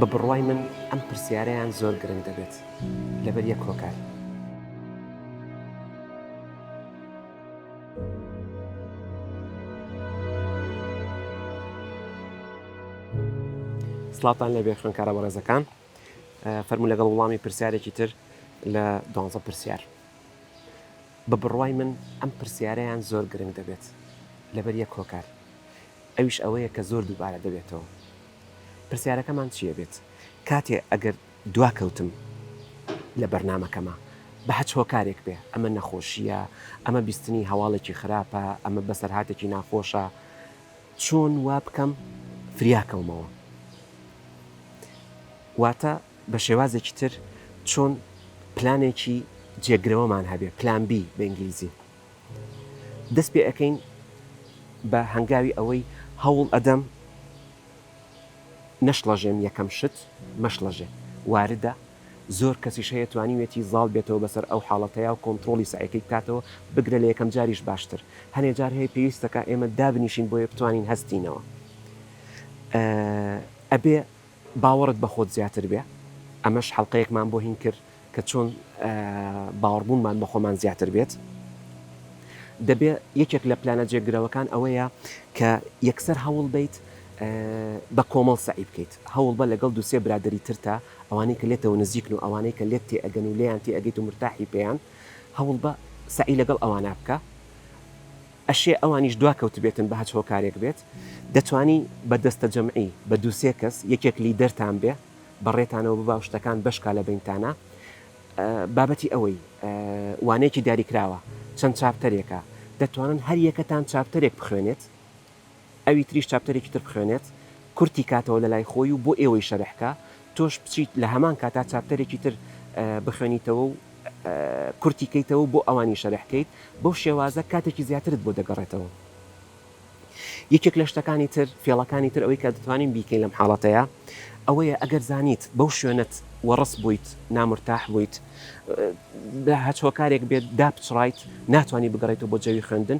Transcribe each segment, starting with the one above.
بە بڕوای من ئەم پرسیارەیان زۆر گرنگ دەبێت لەبەر یەک کۆکار. سڵاتان لەبێ خوێنکارە بەڕێزەکان فەرموو لەگەڵ وڵامی پرسیارێکی تر لە دوانزە پرسیار. بە بڕوای من ئەم پرسیارەیان زۆر گرنگ دەبێت لەبەر یەک هۆکار. ئەویش ئەوەیە کە زۆر دووبارە دەبێتەوە. پرسیارەکەمان چی ئەبێت؟ کاتێ ئەگەر دواکەوتم لە بەرنامەکەما بە هەچ هۆکارێک بێ، ئەمە نەخۆشییە، ئەمە بیستنی هەواڵێکی خراپە، ئەمە بەسەرهاتێکی ناخۆشە، چۆن وا بکەم فریاکەومەوە؟ واتە بە شێوازێکی تر چۆن پلانێکی جێگرەوەمان هەبێ، پلان بی بە ئینگلیزی. دەست پێ ئەکەین بە هەنگاوی ئەوەی هەوڵ ئەدەم نەشڵەژێم یەکەم شت مەشڵەژێ واردە زۆر کەسیش هەیە توانیوێتی زاڵ بێتەوە بەسەر ئەو حاڵەتەیا و کۆنتڕۆڵی سەعیەکەی بکاتەوە بگرە لە یەکەم جاریش باشتر هەنێ جار هەیە پێویستەکا ئێمە دابنیشین بۆیە بتوانین هەستینەوە ئەبێ باوەڕت بە خۆت زیاتر بێ ئەمەش حەڵقەیەکمان بۆ هین کرد کە چۆن باوەڕبوونمان بە خۆمان زیاتر بێت دەبێ یەکێک لە پلانە جێگرەوەکان ئەوەیە کە یەکسەر هەوڵ بیت بە کۆمەڵ سەعی بکەیت هەوڵ بە لەگەڵ دووسێ برادری ترتا ئەوانەی کە لێتەوە نزیکن و ئەوانەی کە لێت تێئەگەن و لێیان تێئەگەیت و مورتاحی پێیان هەوڵبە سەعی لەگەڵ ئەوانە بکە ئەشێ ئەوانیش دواکەوتبێتن بە هەچ هۆکارێک بێت دەتوانی بە دەستە جەمعی بە دوو سێ کەس یەکێک لیدەرتان بێ بەڕێتانەوە ببا و شتەکان بەشکا لە بەینتانا بابەتی ئەوەی وانەیەکی دیاریکراوە چەند چاپتەرێکە دەتوانن هەر یەکەتان چاپتەرێک بخوێنێت ئەوی تریش چاپتەرێکی تر بخوێنێت کورتی کاتەوە لەلای خۆی و بۆ ئێوەی شەرح کا، تۆش بچیت لە هەمان کاتا چاپتەرێکی تر بخوێنیتەوە و کورتی کەیتەوە و بۆ ئەوانی شەرح کەیت، بەو شێوازە کاتێکی زیاترت بۆ دەگەڕێتەوە. یەکێک لە شتەکانی تر، فێڵەکانی تر ئەوەی کە دەتوانین بیکەین لەم حاڵەتەیا، ئەوەیە ئەگەر زانیت بەو شوێنەت وەڕس بوویت، نامرتاح بوویت، بە هەچ هۆکارێک بێت دابچڕایت، ناتوانی بگەڕێیتەوە بۆ جەوی خوێندن،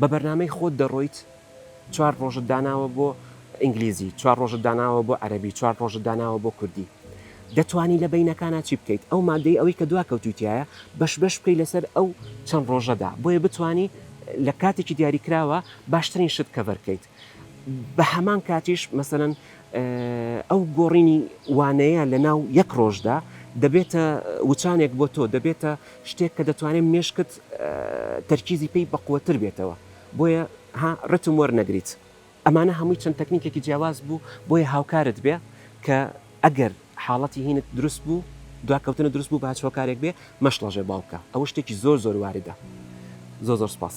بە بەرنامەی خۆت دەڕۆیت چوار ڕۆژت داناوە بۆ ئینگلیزی چوار ڕۆژت داناوە بۆ عەرەبی چوار ڕۆژت داناوە بۆ کوردی دەتوانی لە بینەکانە چی بکەیت ئەو مادەی ئەوەی کە دوا کەوتوتیایە بەش بەش بکەی لەسەر ئەو چەند ڕۆژەدا بۆیە بتانی لە کاتێکی دیاریکراوە باشترین شت کەڤەرکەیت. بە هەمان کاتیش مەسەلەن ئەو گۆڕینی وانەیە لە ناو یەک ڕۆژدا دەبێتە وچانێک بۆ تۆ دەبێتە شتێک کە دەتوانێت مێشکت تەرکیزی پێی بەقوەتر بێتەوە بۆیە ها ڕتم وەرنەگریت ئەمانە هەمووی چەند تەکنیکێکی جیاواز بوو بۆیە هاوکارت بێ کە ئەگەر حاڵەتی هینت دروست بوو دواکەوتنە دروست بوو باچ هۆکارێک بێ مەشڵەژێ باوکە ئەوە شتێکی زۆر زۆر واردە زۆر زۆر سپاس.